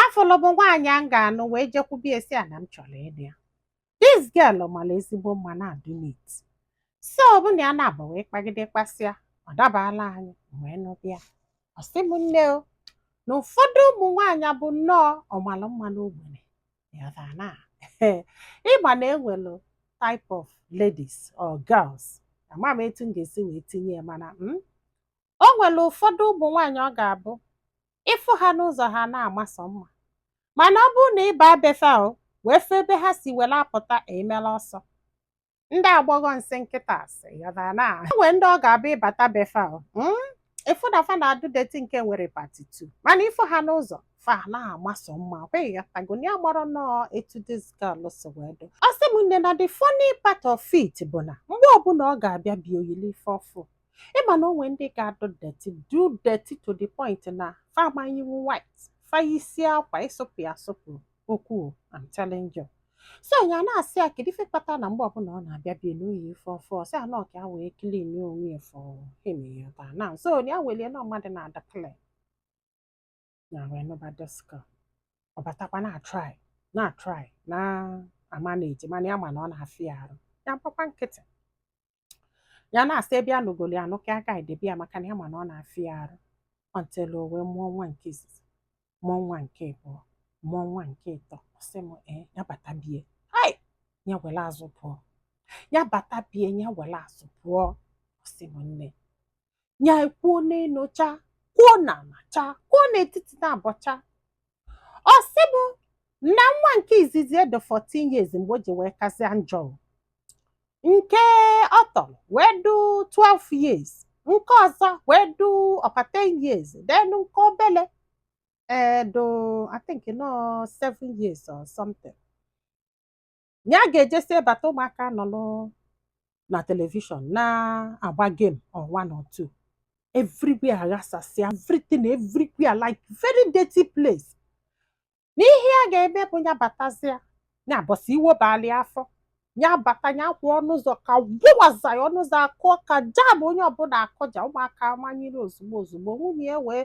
afụlụ m nwaanyị m ga-anụ wee jekwube ya sị ya na m chọrọ ịnụ ya this girl mara ezigbo mma na-adị neat so mụ na ya naabọ wee kpagide kpasịa ọ dabala anyị wee nụba ya ọ sị m nne o na ụfọdụ ụmụ nwaanyị bụ nnọọ ọmara mma n'ogbenye ịghọtara na ị ma na e nwelu type of ladies or girls ama m etu m ga-esi wee tinye ya mana m O nwere ụfọdụ ụmụ nwaanyị ọ ga-abụ ị fụ ha n'ụzọ ha na-ama sọ mma mana ọ bụrụ na ị baa be fa o wee fụ ebe ha si were apụta emela ọsọ ndị agbọghọ nsị nkịta asị na e nwe ndị ọ ga-abụ ị bata be fa mm, ị fụ na fa na-adụ dirty nke nwere part two mana ị fụ ha n'ụzọ fa na-ama sọ mma ị ghọtago nya bụrụ nnọọ etu this girl si wee dụ ọ sị m nne na the funny part of it bụ na mgbe ọbụla ọ ga-abịa be ya o yili ife ọfụụ ị ma na o nwe ndị ga-adụ dirty dụ dirty to the point na fa ama eyinwu white fa yisịa akwa ịsụpụ ya asụpụ okwu I'm telling you so ya na-asị ya kedu ife kpata na mgbe ọbụla ọ na-abịa be ya na o yi ife ọfụụ ọ sị ya na ọ ka ya wee clean onwe ya for him ya na so ya weli ya na ọ mmadụ na-adị clean ya wee nụba this girl ọ batakwa na-atry na-atry na-amanage mana ya ma na ọ na-afịa ya arụ ya gbakwa nkịtị ya na-asị ebe ya nụgolu ya anụ ka a ka edebe ya maka na ya ma na ọ na-afịa ya arụ until o wee mụọ nwa nke izizi mụọ nwa nke abụọ mụọ nwa nke ịtọ ọ sị m ee ya bata be ya hai ya were azụ pụọ ya bata be ya ya were azụ pụọ ọ sị m nne ya kwuo n'elu cha kwuo n'ala cha kwuo n'etiti naabọ cha ọ sị mụ na nwa nke izizi adụ 14 years mgbe o ji wee kasịa njọ nke ọ tọrọ wee dụ 12 years nke ọzọ wee dụ ọ kwa 10 years then nke obele adụ I think na ọ 7 years or something na ya ga-ejesịa bata ụmụaka nọ n'ụ- na telivishọn na-agba game or one or two everywhere aghasasịa everything everywhere like very dirty place na ihe ya ga-eme bụ ya batazịa ya bọsị iwe balị ya afọ ya bata ya kwụ ọnụ ụzọ ka gwụwaza ya ọnụ ụzọ akụọ ka jam onye ọbụla akụja ụmụaka manyere ozugbo ozugbo nwunye ya wee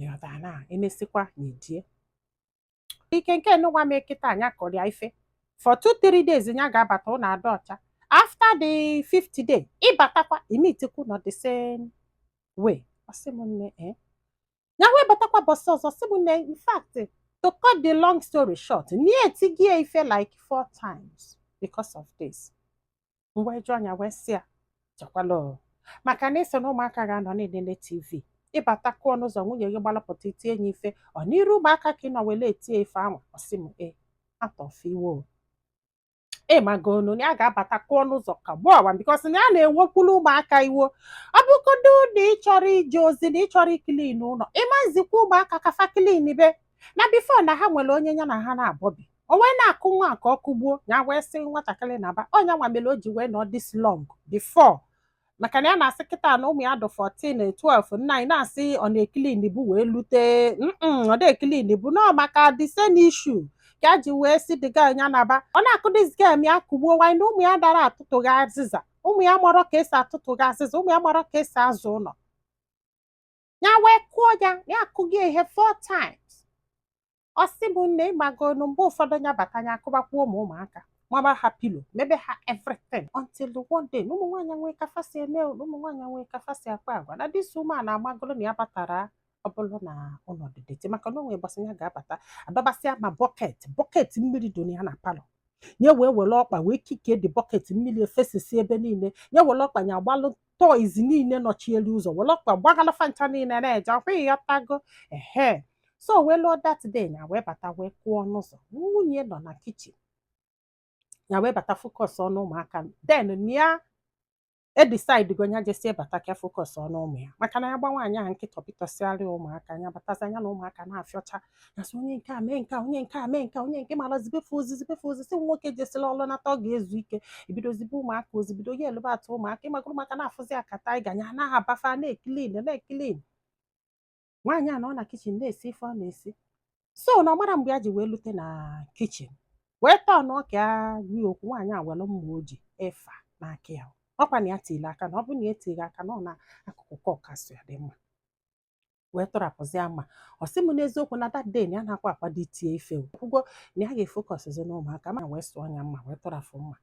ị ghọta na emesịkwa nya edie ike nke nụwa m kịta nya kụrụ ya ife for two three days nya ga-abata ụlọ adụ ọcha after the fifth day ị batakwa i meetikwa ụnọ the same way ọ sị m nne eh ya wee batakwa ụbọsị ọzọ ọ sị m nne in fact to cut the long story short nya etigo ya ife like four times because of this m wee jụọ nya wee sị ya chekwala o. maka na ị sị na ụmụaka ga-anọ na-enene tv ị bata kụọ n'ụzọ nwunye gị gbalapụta i tie ya ife ọ n'iru ụmụaka ka ị nọ wele etie ife ahụ ọ sị m e atọfe iwe o ị magonu na ya ga-abata kụọ n'ụzọ ka gbuo awa bikos na ya na-ewekwulu ụmụaka iwo ọ bụgodo na ị chọrọ ije ozi na ị chọrọ ikilin ụlọ ị ma zikwa ụmụaka ka fa klin be na bifo na ha nwere onye ya na ha naabọ bi o wee na-akụ nwa ka ọ kụgbuo ya wee sị nwatakịrị naba ọ nya nwa mere o ji wee nọ dis long before maka na ya na-asị kịta na ụmụ ya dụ 14 12 na nya na-asị ọ na-ekilinbu wee lute ọ na-ekilinbu ụnọ maka the same issue ka a ji wee sị the girl ya naba ọ na-akụ dis girl ya kụgbuo nwanyị na ụmụ ya dara atụtụghị azịza ụmụ ya marọ ka e si atụtụghị azịza ụmụ ya marọ ka e si aza ụlọ ya wee kụọ ya ya akụghị ihe four times ọ sị m nne ị magonu mgbe ụfọdụ ya bata ya akụbakwuo ụmụ ụmụaka maba ha pilo mebe ha everything until the one day na ụmụ nwaanyị nwee ka fa si eme na ụmụ nwaanyị nwee ka fa si akpa agwa na dis woman amagoro na ya batara ọ bụrụ na ụlọ dị dirty maka na o nwee mgbe a sị ya ga-abata adọbasịa ma bọket bọket mmiri dị ya na palọ nya wee were ọkpa wee kikie the bọket mmiri efesịsịa ebe niile nya were ọkpa ya agbalụ toys niile nọchielu ụzọ were ọkpa gbagala fa ncha niile na-eje ọ kwa ị ghọtago ehe so wee luo that day ya wee bata wee kụọ ọnụ ụzọ nwunye nọ na kichin ya wee bata focus on ụmụaka then na ya edecidego nya jesịa bata ka focus on ụmụ ya maka na ya gba nwaanyị ahụ nkịtị ọ pịtọsịarị ụmụaka nya batazi nya na ụmụaka na-afịọcha nya sị onye nke a mee nke a onye nke a mee nke a onye nke mara zibe fa ozi zibe fa ozi sị nwoke jesila ọlụ nata ọ ga-ezu ike o bido zibe ụmụaka ozi bido yelibe at ụmụaka ị magoro maka na-afụzi akata anyị ganya anaghị abafa na-ekilin na-ekilin nwaanyị a nọ na kichin na-esi ife ọ na-esi so na ọ mara mgbe ya ji wee lute na kichin wee tọọ nya ka ya gwa ya okwu nwaanyị a were mma o ji efa na aka ya ọ kwa na ya tiri aka na ọ bụrụ na ya tirọ aka na ọ n'akụkụ ka ọ ka-asụ ya the mma wee tụrapụzia mma ọ sị m n'eziokwu na that day na ya na-akwa akwado itie ife kwugo na ya ga-efokọsịzi n'ụmụaka ma wee sụọ nya mma wee tụrafụ mma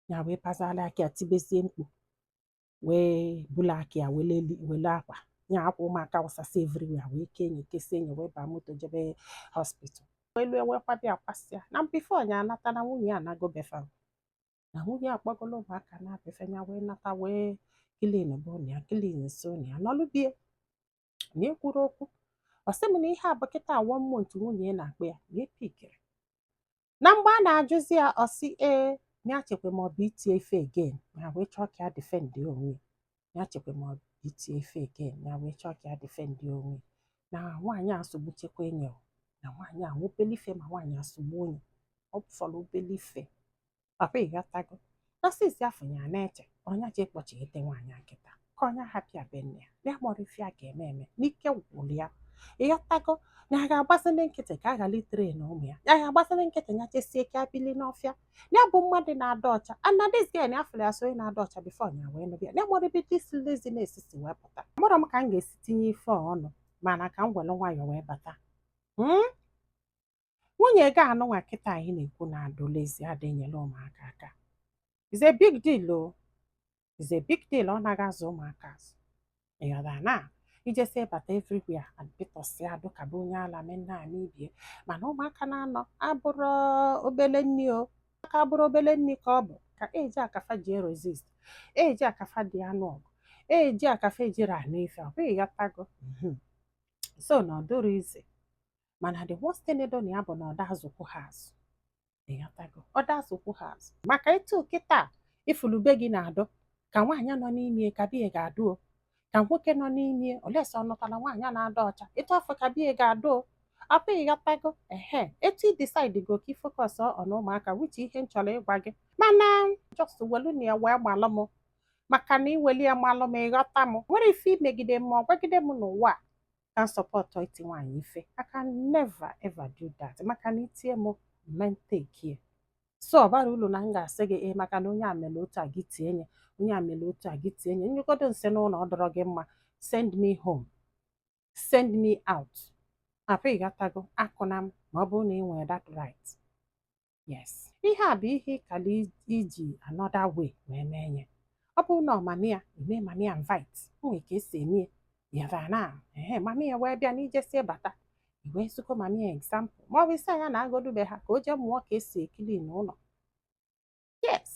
ya wee pazala aka ya tibezie mkpu wee bula aka ya wele akwa ya akwa ụmụaka wụsasị everywhere wee kee nya kesie nya wee baa moto jebe hospital wee lue wee kwabe ya kwasịa na bifo ya anata na nwunye ya anago be fa na nwunye akpọgolo ụmụaka naa be fa ya wee nata wee kilinbe ụnọ ya kilinsịa ụnọ ya nọlụ be ya nya ekwurọ okwu ọ sị m na ihe a bụ kịta one month nwunye ya na-akpọ ya nya epikirọ na mgbe a na-ajụzi ya ọ sị ee ya chekwa ma ọ bụ itie ife again nya wee chọọ ka ya defend onwe ya ya chekwa ma ọ itie ife again ya wee chọọ ka ya defend onwe na nwaanyị a sogbu chekwa enyi na nwaanyị a obele ife ma nwaanyị a sogbuo nye ọ fọrọ obele ife papa ịghọtago na sisi afọ ya na-eche ọ nya je ịkpọchighete nwaanyị a kịta ka ọ nya hapụ ya be nne ya na ya amarọ ife ya ga-eme eme n'ike gwụrụ ya ịghọtago na ya ga-agbazi nkịtị ka a ghara itere na ụmụ ya ya ga-agbazi nkịtị ya chesie ka ya bili n'ọfịa ya bụ mmadụ na-adụ ọcha and na this girl ya fụrụ ya as onye na-adụ ọcha before nya wee nụbịa ya amarọ ebe this laziness si wee pụta amarọ m ka m ga-esi tinye ife a ọnụ mana ka m were nwayọọ wee bata Hmm? nwunye gị anụnwa kịta anyị na-ekwu na-adụ lazy ada enyela ụmụaka aka is a big deal o is a big deal ọ naghị azụ ụmụaka azụ ịghọta na ijesi bata everywhere apịtọsịa dụ ka be onye ala mee nna anyị ibie mana ụmụaka na-anọ abụrọ obele nni o aka abụrọ obele nni ka ọ bụ ka age a ka fa ji resist age a ka fa ji anụ ọgụ age a ka fa ejirọ anụ ife hope ịghọtago mhm. so na ọ dụrọ easy mana the worst thing dị na ya bụ na ọ da azụkwụ ha azụ ịghọtago ọ da azụkwụ ha azụ maka etu kịta ifulu be gị na-adụ ka nwaanyị nọ n'ime ka be ya ga-adụ o ka nwoke nọ n'ime unless ọ nụtara nwaanyị na-adụ ọcha etu afụ ka be ya ga-adụ o I hope ịghọtago ehe etu ị decide go ka ị focus on ụmụaka which ihe m chọrọ ịgwa gị mana just welu nya wee malụ m maka na iweli ya malụ m ịghọta m nwerọ ife imegide m ma ọ gwagide m n'ụwa a ka m support iti nwaanyị ife I can never ever do that maka na itie m mentekie so ọ barọ ulu na m ga-asị gị ee maka na onye a mere otu a gị tie nye onye a mere otu a gị tie nye nyụgodu nsị n'ụlọ ọ dụrọ gị mma send me home send me out I hope ịghọtago akụna m ma ọ bụrụ na ị nwere that right yes ihe a bụ ihe ịkara iji another way wee mee nye ọ bụrụ na ọ mama ya eme mama ya invite nwee ka esi eme yara na ee mama ya wee bịa n'ijesie bata i wee zikwuo mama ya example ma ọ bụ ịsị ya nya naagodu be ha ka o jee mụọ ka esi clean ụlọ yes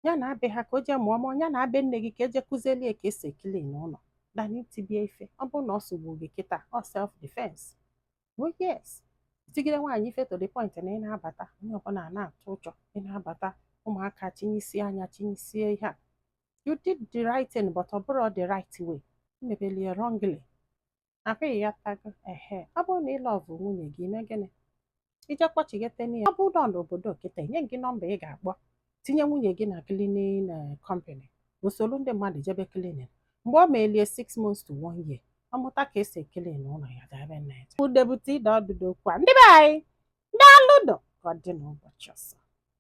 ya naa be ha ka o jee mụọ ma ọ ya naa be nne gị ka eje kụzielie ka esi clean ụlọ than itibie ife ọ bụrụ na ọ sogbu gị kịta ọ self defense oh yes itigide nwaanyị ife to the point na ị na-abata onye ọbụla na-atụ ụjọ ị na-abata ụmụaka chinyesie anya chinyesie ihe a you did the right thing but ọ bụrọ the right way mebelie wrongly I hope ịghọtago ehe ọ bụrụ na ị love nwunye gị ime gịnị ije kpọchighete nya ọ bụrụ na ọ n'obodo kịta enye gị nọmba ị ga-akpọ tinye nwunye gị na cleaning eh, company o soro ndị mmadụ jebe cleaning mgbe ọ melie six months to one year ọ mụta ka esi clean ụlọ ya gaebe na ya udebute ide ọdụdụ okwu a ndị be anyị naa n'udo ka ọ dị n'ụbọchị ọzọ